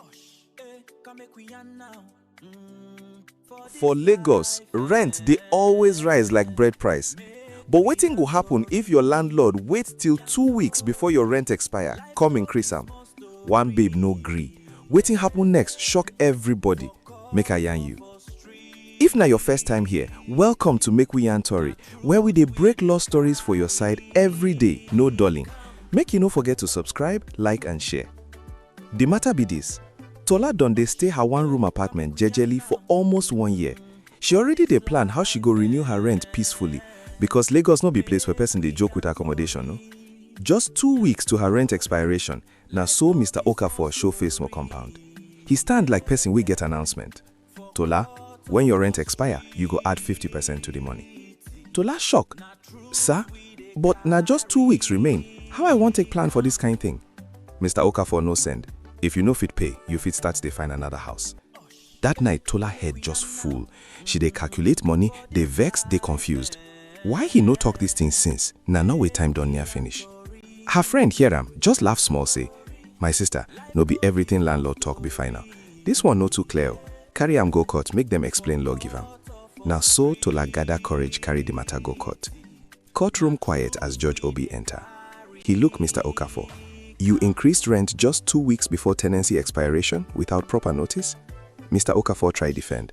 Osh, eh, come make we yarn now. Mm, for this For Lagos, life, rent dey always rise like bread price. But wetin go happen if your landlord wait till two weeks before your rent expire, come increase am? One babe no gree. Wetin happen next shock everybody. Make I yarn you. If na your first time here, welcome to Make We Yarn Tori, where we dey break law stories for your side every day, no dulling. Make you no forget to subscribe, like and share. Di mata be dis, Tola don dey stay her one room apartment jejely for almost one year. She already dey plan how she go renew her rent peacefully because Lagos no be place where person dey joke with accommodation o. Just two weeks to her rent expiration, na so Mister Okafor show face for compound. He stand like person wey get announcement. Tola, when your rent expire, you go add 50 percent to the money. Tola shock, Sir, but na just two weeks remain, how I wan take plan for this kind thing? Mr. Okafor no send, if you no fit pay, you fit start dey find another house. That night, Tola head just full. She dey calculate money, dey vex, dey confused. Why he no talk this thing since? Na now wey time don near finish. Her friend hear am, just laugh small say, My sister, no be everything landlord talk be final. This one no too clear o, carry am go court make dem explain law give am. Na so Tola gather courage carry the matter go court. Court room quiet as Judge Obi enter. He look Mister Okafor, You increased rent just two weeks before tenancy expiration without proper notice? Mister Okafor try defend.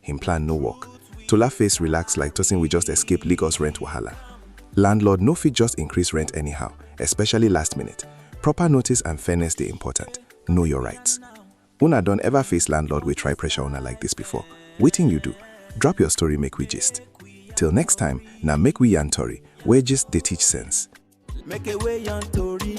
him plan no work. Tola face relax like tosin we just escape Lagos rent wahala. Landlord no fit just increase rent anyhow, especially last minute. Proper notice and fairness dey important. Know your rights. Una don ever face landlord wey try pressure una like this before? Wetin you do? Drop your story make we gist. Till next time, na make we yarn tori, where gist dey teach sense. Make a way on Tori.